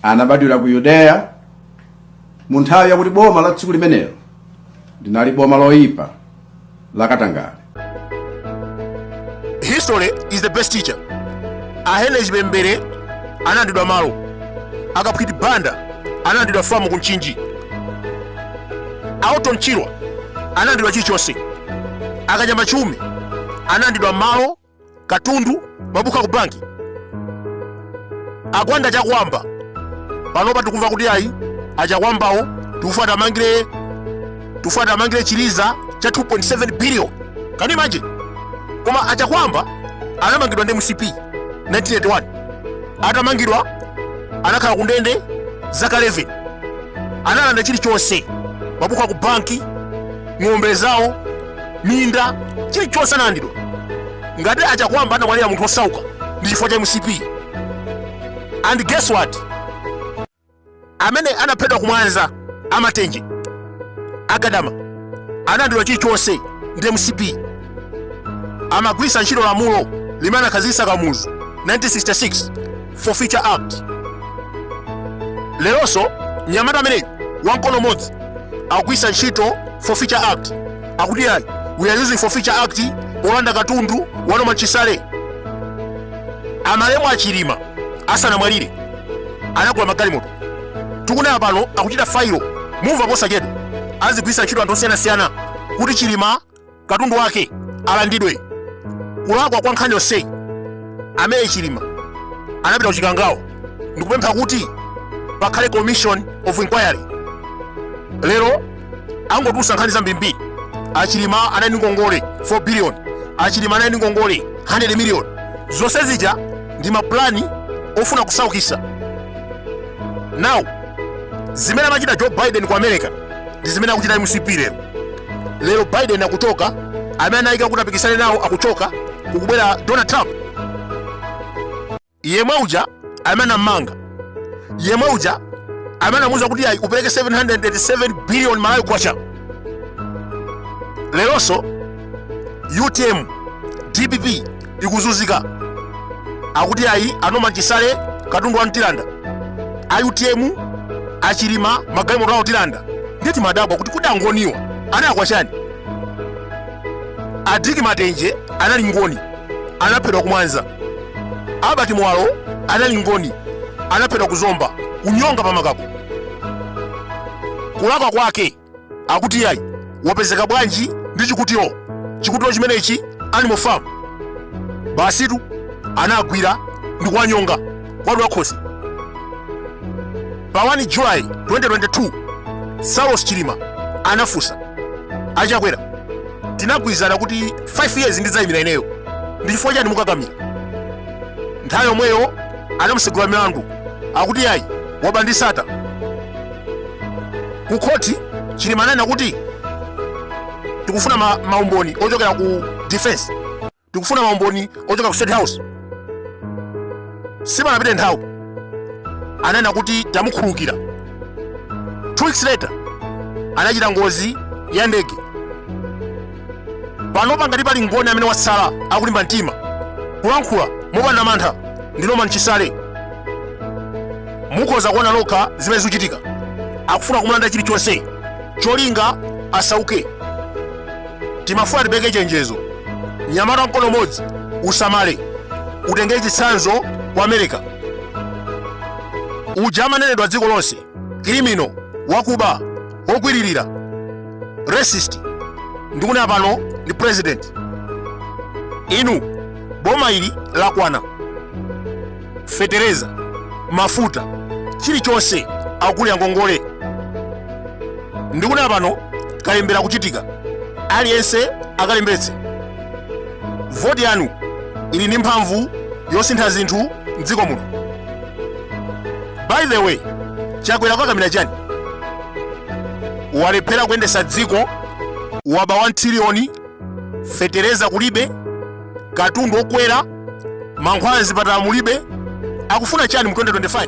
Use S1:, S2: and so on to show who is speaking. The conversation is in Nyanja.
S1: anabadwira ku yudeya mu nthawi yakuti boma la tsiku limenelo linali boma loyipa lakatangale
S2: history is the best teacher a henry chipembere analandidwa malo akaphwiti banda analandidwa famu ku mchinji a orton chirwa analandidwa chilichonse akanyama chiume analandidwa malo katundu mabuku aku banki agwanda chakwamba panopa tikumva kuti ayi achakwambawo tikufuna tiwamangire chiliza cha 2.7 billion can you imagine koma achakwamba anamangidwa ndi mcp 1981 atamangidwa anakhala ku ndende zaka 11 analanda chilichonse mabuku aku banki ng'ombe zawo minda chilichonse analandidwa ngati achakwamba anamwalira munthu osauka ndi chifukwa cha mcp and guess what amene anaphedwa kumwanza amatenje agadama analandidwa chilichonse ndi mcp amagwirisa ntchito lamulo limene anakhazikitsa kamuzu 1966 forfeiture act leronso mnyamata ameneyu wamkono umodzi akugwiritsa ntchito forfeiture act akuti ayi we are using forfeiture act polanda katundu wa norman chisale amalemu achilima asanamwalire anagula magalimoto tikunena pano akuchita failo mumva posachedwa azigwiritsa ntchito anthu osiyanasiyana kuti chilima katundu wake alandidwe kulakwa kwa nkhani yonseyi amene chilima anapita kuchikangawo ndikupempha kuti pakhale commission of inquiry lero angotulusa nkhani zambirimbiri achilima anali ndi ngongole 4 billion achilima anali ndi ngongole 100 million zonse zija ndi mapulani ofuna kusaukisa now zimene amachita joe biden ku america ndi zimene akuchita mcp lero lero biden akuchoka amene anayika kuti apikisane nawo akuchoka kukubwera donald trump yemwe uja amene anammanga yemwe uja amene anauzidwa kuti ayi upereke 787 billion malawi kwacha leronso utm dpp ikuzunzika akuti ayi a norman chisale katundu wawo tilanda a utm achilima magalimoto awo tilanda nde timadabwa kuti kodi angoniwa analakwa chani adiki matenje anali ngoni anaphedwa kumwanza albert muwalo anali ngoni anaphedwa kuzomba kunyonga pa makako kulakwa kwake akuti yayi wapezeka bwanji ndi chikutiro, chikutiro chimenechi animal farm basitu anagwira ndi kuwanyonga kuwadula khosi pa 1 july 2022 saulos chilima anafunsa a chakwera tinagwirizana kuti 5 years ndidzayimira ineyo ndi chifukwa chani mukukakamira nthawi yomweyo anamutsegulira milandu akuti yayi waba ndi sattar ku khoti chilima ananena kuti tikufuna ma, maumboni ochokera ku defense tikufuna maumboni ochokera ku state house sipanapite nthawi ananena kuti tamukhululukira two weeks later anachita ngozi ya ndege panopa ngati pali mngoni amene watsala akulimba mtima kulankhula mopanda mantha ndi norman chisale mukhoza kuona lokha zimene zikuchitika akufuna kumulanda chilichonse cholinga asauke timafuna tipereke chenjezo mnyamata wa mkono umodzi usamale utengere chitsanzo ku america uja amanenedwa dziko lonse criminal wakuba wogwiririra racist ndikunena pano ndi president inu boma ili lakwana feteleza mafuta chilichonse akugulira ngongole ndikunena pano kalembera akuchitika aliyense akalembetse voti yanu ili ndi mphamvu yosintha zinthu mdziko muno by the way chakwera akukakamira chani walephera kuyendetsa dziko waba 1 trillion feteleza kulibe katundu wokwera mankhwala mzipatala mulibe akufuna chani mu 2025